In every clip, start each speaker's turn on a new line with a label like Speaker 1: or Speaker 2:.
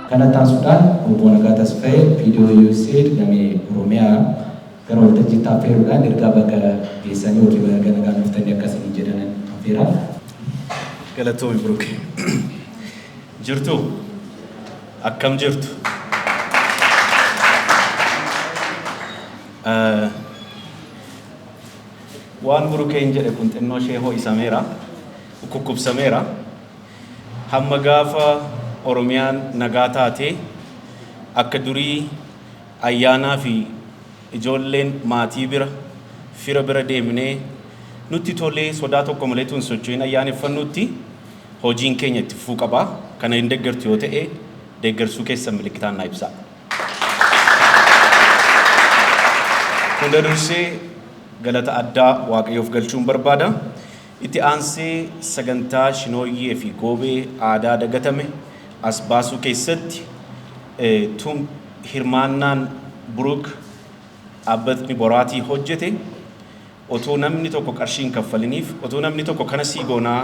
Speaker 1: Kana ittaansuudhaan Obbo Nagaa Tasfayee Viidiyoo Usaid damee Oromiyaa gara waltajjiitti affeeruudhaan ergaa baga geessanii ykn baga nagaan dhuftanii akka isiniin jedhanan affeera.
Speaker 2: Galatoomi Buruke. Jirtuu? Akkam jirtu? Eh, Waan Burukeen jedhe kun xinnoo ishee ho'isameera, ukkukkubsameera. Hamma gaafa Oromiyaan nagaa taatee akka durii ayyaanaa fi ijoolleen maatii bira, fira bira deemnee nutti tolee sodaa tokko malee utuu hin socho'in ayyaaneffannutti hojiin keenya itti fufuu qaba. Kana hin deggertu yoo ta'e deggersuu keessan milikkitaan naa ibsaa. Hunda dursee galata addaa Waaqayyoof galchuun barbaada. Itti aansee sagantaa Shinooyyee fi Goobee aadaa dagatame as baasuu keessatti tum hirmaannaan Buruuk dhaabbatni Boraatii hojjete otoo namni tokko qarshii hin kaffaliniif otoo namni tokko kana sii goonaa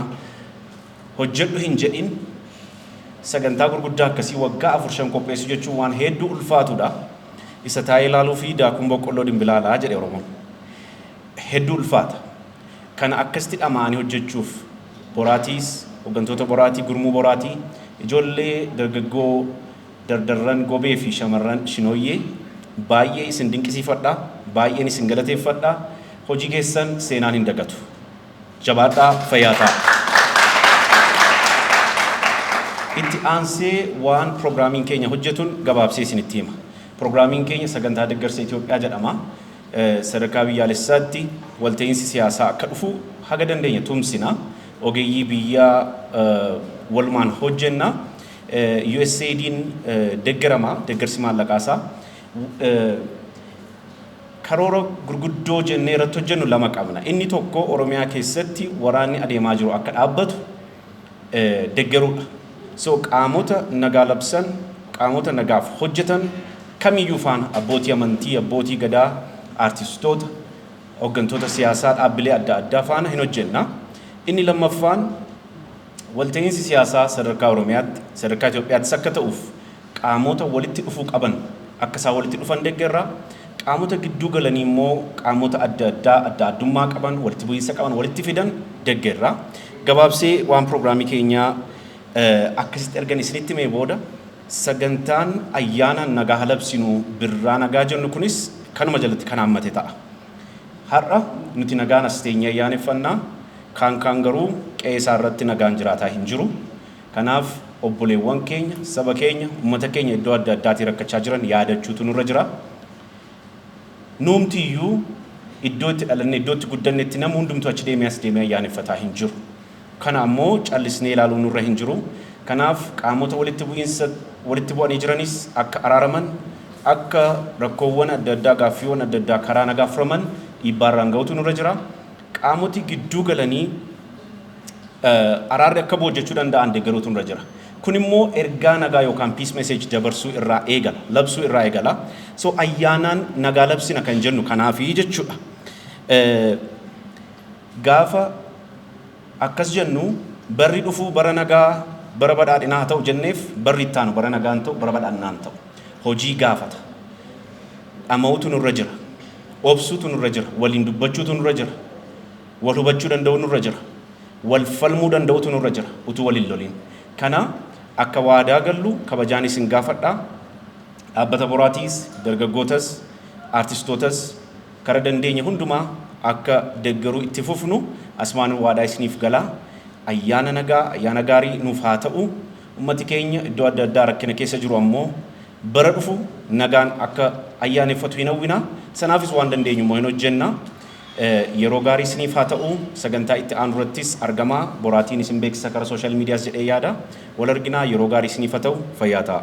Speaker 2: hojjedhu hin jedhin sagantaa gurguddaa akkasii waggaa afur shan qopheessuu jechuun waan heedduu ulfaatuudha. Isa taa'ee ilaaluu fi daakuun boqqolloo dimbilaalaa jedhe Oromoon. Hedduu ulfaata. Kana akkasitti dhama'anii hojjechuuf boraatiis, hoggantoota boraatii, gurmuu boraatii, ijoollee dargaggoo dardarran gobee fi shamarran shinooyyee baay'ee isin dinqisiifadha, baay'een isin galateeffadha, hojii keessan seenaan hin dagatu. Jabaadhaa fayyaa ta'a. Itti aansee waan piroogiraamiin keenya hojjetun gabaabsee isinitti hima. Piroogiraamiin keenya sagantaa deggarsa Itoophiyaa jedhama. Sadarkaa biyyaalessaatti walta'iinsi siyaasaa akka dhufu haga dandeenye tumsina. Ogeeyyii biyyaa walumaan hojjenna. USAID'n deggerama, deggarsi maallaqaasaa. Karoora gurguddoo jennee irratti hojjennu lama qabna. Inni tokko Oromiyaa keessatti waraanni adeemaa jiru akka dhaabbatu deggeruudha. So qaamota nagaa labsan, qaamota nagaaf hojjetan kamiyyuu faana abbootii amantii, abbootii gadaa, aartistoota, hoggantoota siyaasaa dhaabbilee adda addaa faana hin hojjenna. Inni lammaffaan walta'iinsi siyaasaa sadarkaa Oromiyaatti, sadarkaa Itoophiyaattis akka ta'uuf Qaamota walitti dhufuu qaban akka isaan walitti dhufan deggerra. Qaamota gidduu galanii immoo qaamota adda addaa adda addummaa qaban, walitti bu'iinsa qaban walitti fidan deggerra. Gabaabsee waan prograamii keenyaa akkasitti ergan isinitti himee booda sagantaan ayyaana nagaa labsinu birraa nagaa jennu kunis kanuma jalatti kan haammate ta'a. Har'a nuti nagaan as teenyee ayyaaneffanna, kaan kaan garuu qe'ee isaa irratti nagaan jiraataa hin jiru. Kanaaf obboleewwan keenya, saba keenya, ummata keenya iddoo adda addaatii rakkachaa jiran yaadachuutu nurra jira. Nuumti iyyuu iddoo itti dhalanne, iddoo itti guddannetti namni hundumtuu achi deemee as deemee ayyaaneffataa hin jiru. Kana ammoo callisnee ilaaluun nurra hin jiru. Kanaaf qaamota walitti bu'iinsa walitti bu'anii jiranis akka araaraman, akka rakkoowwan adda addaa, gaaffiiwwan adda addaa karaa nagaa furaman dhiibbaa irraan gahuutu nurra jira. Qaamoti gidduu galanii. araarri akka bu'u hojjechuu danda'an deggeruutu nurra jira. Kun immoo ergaa nagaa yookaan peace message dabarsuu irraa eegala, labsuu irraa eegala. So ayyaanaan nagaa labsina kan jennu kanaafi jechuudha. Gaafa akkas jennu barri dhufuu bara nagaa bara badhaadhinaa haa ta'u jenneef barri itti aanu bara nagaan ta'u bara badhaadhinaan ta'u hojii gaafata. Dhama'uutu nurra jira. Obsuutu nurra jira. Waliin dubbachuutu nurra jira. Wal hubachuu danda'uu nurra jira. Wal falmuu danda'utu nurra jira utuu wal hin loliin. Kana akka waadaa gallu kabajaan isin gaafadha. Dhaabbata Boraatiis, dargaggootas, aartistootas kara dandeenye hundumaa akka deggeruu itti fufnu asumaanan waadhaa isiniif gala. Ayyaana nagaa, ayyaana gaarii nuuf haa ta'u. Ummati keenya iddoo adda addaa rakkina keessa jiru ammoo bara dhufu nagaan akka ayyaaneffatu hin hawwina. Sanaafis waan dandeenyu immoo hin hojjenna. Yeroo gaarii isiniif haa ta'u. Sagantaa itti aanu irrattis argamaa boraatiin isin beeksisa kara social medias jedhee yaada. Wal arginaa yeroo gaarii isiniif ha ta'u. Fayyaa ta'aa.